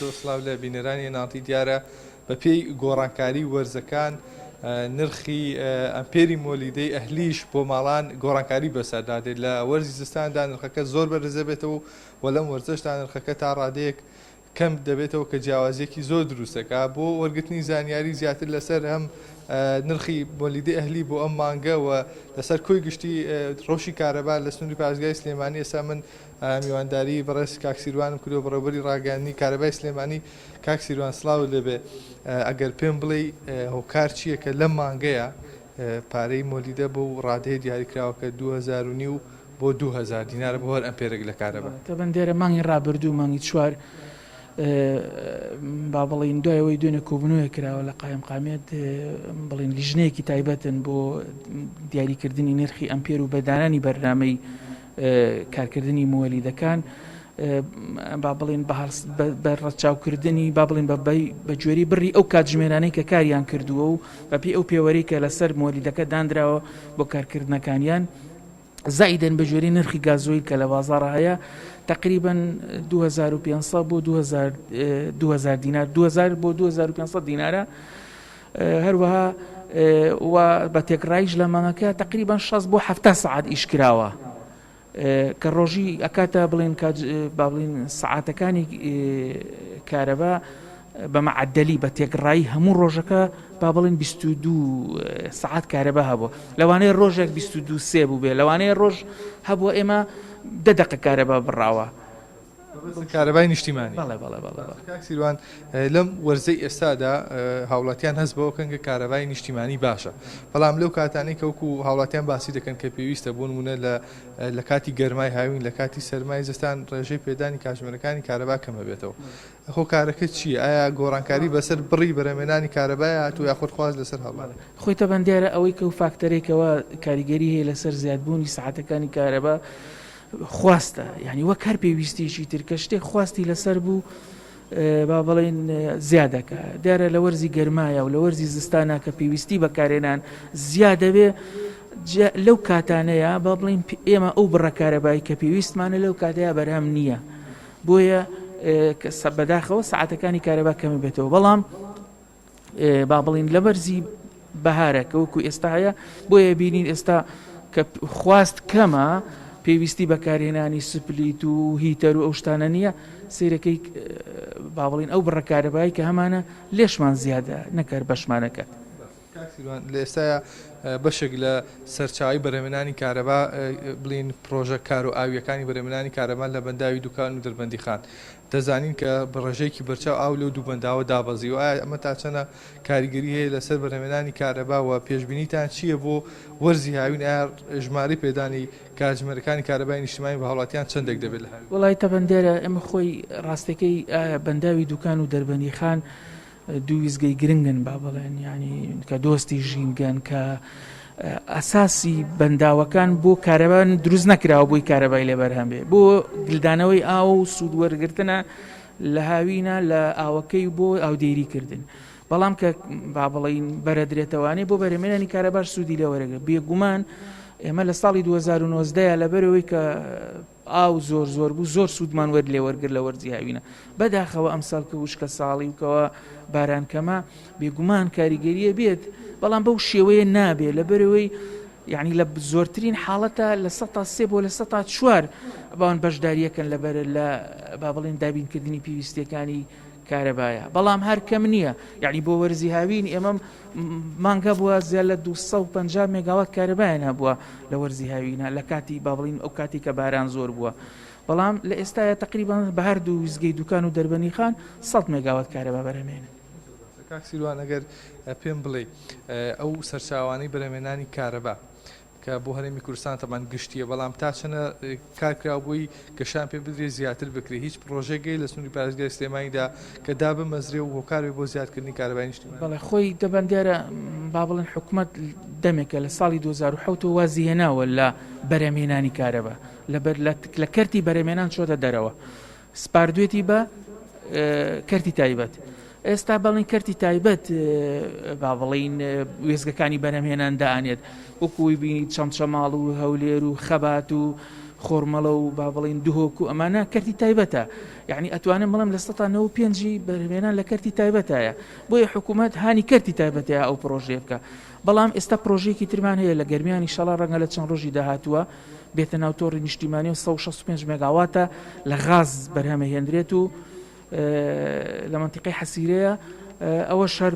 زۆر سڵاو لە بینەرانی نانتی دیارە بەپێی گۆڕانکاری وەرزەکان نرخی ئەمپێری مۆلیدەی ئەهلیش بۆ ماڵان گۆڕانکاری بەسەردا دێت لە وەرزی زستاندا نرخەکە زۆر بەرزە بێتەوە و لەم وەرزشدا نرخەکە تا ڕادەیەک کەم دەبێتەوە کە جیاوازیەکی زۆر دروستەکە بۆ وەرگرتنی زانیاری زیاتر لەسەر هەم نرخی بۆلیدی ئەهلی بۆ ئەم مانگەوە لەسەر کۆی گشتی ڕۆشی کارەبا لە سنووری پارێزگای سلێمانی ئێستا من میوانداریی بەڕێز کاک سیروانم کردووە، بەڕێوەبەری ڕاگەیاندنی کارەبای سلێمانی. کاک سیروان سڵاوت لێ بێ، ئەگەر پێم بڵێی هۆکار چییە کە لەم مانگەیا پارەی مۆلیدە بۆ ڕادەیە دیاریکراوە کە دوو هەزار و نیو بۆ دوو هەزار دینارە بۆ هەر ئەمپێرێک لە کارەبا؟ تەبەن دێرە مانگی ڕابردوو، مانگی چوار با بڵێین، دوای ئەوەی دوێنێ کۆبوونەوەیەک کراوە لە قایمقامیەت، بڵێین لیژنەیەکی تایبەتن بۆ دیاریکردنی نرخی ئەمپێر و بە دانانی بەرنامەی کارکردنی موەلیدەکان با بڵین بە ڕەچاوکردنی با بڵین بە گوێری بڕی ئەو کاتژمێرانەی کە کاریان کردووە و بەپی ئەو پێوەری کە لەسەر مۆلیدەکە دانراوە بۆ کارکردنەکانیان زائیدن بە جوێری نرخی گازۆیل کە لە بازار هەیە تقریبن 2500 بۆ 2000 دینار 2000 بۆ 2500 دینارە هەروەها و بە تێکڕاییش لە مانگەکە تەقریبەن شەست بۆ حەفتا سەعات ئیش کراوە کە ڕۆژی ئەکاتە بڵین با بڵین سەعاتەکانی کارەبا بە مەعەدەلی بە تێکڕایی هەموو ڕۆژەکە با بڵین 22 سعات کارەبا هەبوو لەوانەیە ڕۆژێک 22 سێ بوو بێ لەوانەیە ڕۆژ هەبووە ئێمە دە دەقە کارەبا بڕاوە مەبەستت کارەبای نیشتیمانی؟ بەڵێ بەڵێ بەڵێ. باشە کاک سیروان لەم وەرزەی ئێستادا هاوڵاتیان هەست بەوە کەن کە کارەبای نیشتیمانی باشە بەڵام لەو کاتانەی کە وەکو هاوڵاتیان باسی دەکەن کە پێویستە بۆ نموونە لە لە کاتی گەرمای هاوین لە کاتی سەرمای زستان ڕێژەی پێدانی کاژمێرەکانی کارەبا کەم هەبێتەوە هۆکارەکە چییە ئایا گۆڕانکاری بەسەر بڕی بەرهەمێنانی کارەبای هاتوو یاخود خواست لەسەر هەڵات؟ خۆی تەبەن دیارە ئەوەی کە و فاکتەرێکەوە کاریگەری هەیە لەسەر زیادبوونی سەعاتەکانی کارەبا خواستە یانی وەک هەر پێویستیەکی تر کە شتێک خواستی لەسەر بوو با بڵین زیادەکە دیارە لە وەرزی گەرمایە و لە وەرزی زستانە کە پێویستی بەکارێنان زیادەوێ لەو کاتانەیە با بڵین ئێمە ئەو بڕەکارەبای کە پێویستمانە لەو کاتەیە بەرهەم نییە بۆیە سە بەداخەوە سعاتەکانی کارەبا کەمی بێتەوە بەڵام با بڵین لە بەرزی بەهارە کە وەکو ئێستا هەیە بۆیە بینین ئێستا کە خواست کەمە پێویستی بەکارهێنانی سپلیت و هیتەر و ئەو شتانە نییە سیرەکەی باڵین ئەو بڕەکارەبایی کە هەمانە لێشمان زیادە نەکەر بەشمانەکەت. لە ئێستاە بەشێک لە سەرچاوی بەرەمێنانی کارەبا بڵین پرۆژە کار و ئاویەکانی بەرەمێنانی کارەبان لە بەنداوی دوکان و دەربەندی خان دەزانین کە بە ڕێژەیەکی بەرچاو ئاو لەو دوو بەنداوە دابەزیوە، ئایا ئەمە تا چەندە کاریگەری هەیە لەسەر بەرهەمهێنانی کارەبا و پێشبینیتان چییە بۆ وەرزی هاوین، ئایا ژمارەی پێدانی کاتژمێرەکانی کارەبای نیشتیمانی بە هاوڵاتیان چەندێک دەبێت لە هاوین؟ وەڵای تەبەندەرە، ئێمە خۆی ڕاستەکەی بەنداوی دوکان و دەربەندیخان دوو وێستگەی گرنگن با بڵێن یانی کە دۆستی ژینگەن کە ئەساسی بەنداوەکان بۆ کارەبان دروست نەکراوە بۆی کارەبای لێ بەرهەم بێ بۆ گلدانەوەی ئاو و سوودوەرگرتنە لە هاوینە لە ئاوەکەی بۆ ئاودێری کردن بەڵام کە با بڵین بەرەدرێتەوانی بۆ بەرەمێنانی کارەباش سوودی لێ وەرەگە بێگومان ئێمە لە ساڵی 2009 لەبەرەوەی کە ئاو زۆر زۆر بوو زۆر سوودمان وەر لێ وەرگر لە وەرزی هاوینە بەداخەوە ئەمساڵ کە وشکە ساڵی و کەوە باران کەمە بێگومان کاریگەریە بێت بەڵام بەو شێوەیە نابێ لە بەرەوەی یعنی لە زۆرترین حاڵەتە لە سە تا سێ بۆ لە سە تا چوار بەوان بەشداریەکەن لەبەر لە با بڵێن دابینکردنی پێویستەکانی کارەبایە بەڵام هەر کەم نییە یەعنی بۆ وەرزی هاوین ئێمە مانگ هەبووە زیاد لە دوو سەد و پەنجا مێگاوات کارەبایان هەبووە لە وەرزی هاوینە لە کاتی با بڵین ئەو کاتی کە باران زۆر بووە بەڵام لە ئێستاە تقریبان بە هەردوو ویزگەی دوکان و دەربەنی خان سەد مێگاوات کارەبا بەرەمێنن کاک سیروان ئەگەر پێم بڵێ ئەو سەرچاوانەی بەرەمێنانی کارەبا کە بۆ هەرێمی کوردستان تەبان گشتیە بەڵام تا چەنە کار کراوە بۆی گەشان پێ بدرێ زیاتر بکرێ هیچ پرۆژەی گەی لە سنوری پارێزگای سلێمانیدا کە دابمەزرێ و هۆکار بێ بۆ زیادکردنی کارەبای نیشتیمانی. بەڵێ خۆی تەبان دیارە با بڵێن حکومەت دەمێکە لە ساڵی دوو هەزار و حەوت ەوە وازی هێناوە لە بەرهەمهێنانی کارەبا لەبەر لە کەرتی بەرهەمێنان چۆتە دەرەوە سپاردوێتی بە کەرتی تایبەت. ئێستا بەڵین کەرتی تایبەت با بڵین وێزگەکانی بەرەمهێنان دانێت وەکوی بینی چەند چەماڵ و هەولێر و خەبات و خۆرمەڵە و با بڵین دهۆک و ئەمانە کەرتی تایبەتە یعنی ئەتوانم بڵم لە سەتا نە و پێنجی بەرمێنان لە کەرتی تایبەتایە بۆیە حکوومەت هانی کەرتی تایبەتەیە ئەو پرۆژێ بکە بەڵام ئێستا پرۆژێکی ترمان هەیە لە گەرمیانی شەڵا ڕەنگە لە چەند ڕۆژی داهاتووە بێتە ناو تۆڕی نیشتیمانی و سەد و شەست و پێنج مێگاواتە لە غاز بەرهەمەهێندرێت و لە مەنتیقی حەسیرەیە ئەوە شەر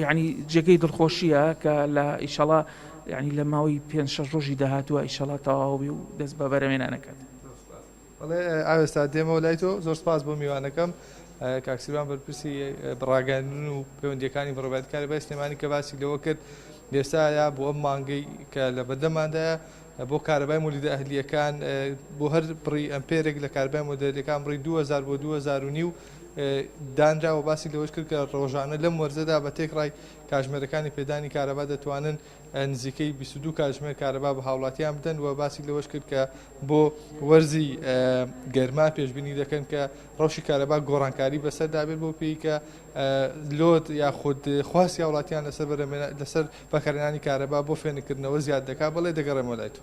ینی جێگەی دڵخۆشیە کە لە ئیشەڵا ینی لە ماوەی پێ شەش ڕۆژی داهاتوە ئیشەڵا تەواوی و دەست بە بەرەمێنانەکەات. بەڵێ ئاوێستا دێمەوە لای تۆ زۆر سپاس بۆ میوانەکەم کاک سیروان بەرپرسی ڕاگەندن و پەیوەندیەکانی بڕبات کارەبای سلێمانی کە باسی لەوە کرد لێستایا بۆ ئەم مانگەی کە لە بەردەماندایە بۆ کارەبای مولیدە ئەهلیەکان بۆ هەر بڕی ئەمپێرێک لە کاربای مۆدلەکان بڕی 2000 بۆ 2000 نیو دانراوە باسی لەوەش کرد کە ڕۆژانە لەم وەرزەدا بە تێکڕای کاژمێرەکانی پێدانی کارەبا دەتوانن نزیکەی بیست و دوو کاتژمێر کارەبا بە هاوڵاتیان بدەن و باسی لەوەش کرد کە بۆ وەرزی گەرما پێشببینی دەکەن کە ڕەوشی کارەبا گۆڕانکاری بەسەر دابێت بۆ پێی کە لۆت یاخود خواستی هاوڵاتیان لەسەر لەسەر بەکارێنانی کارەبا بۆ فێنکردنەوە زیاد دەکات بەڵێ دەگەڕێمەلای تو.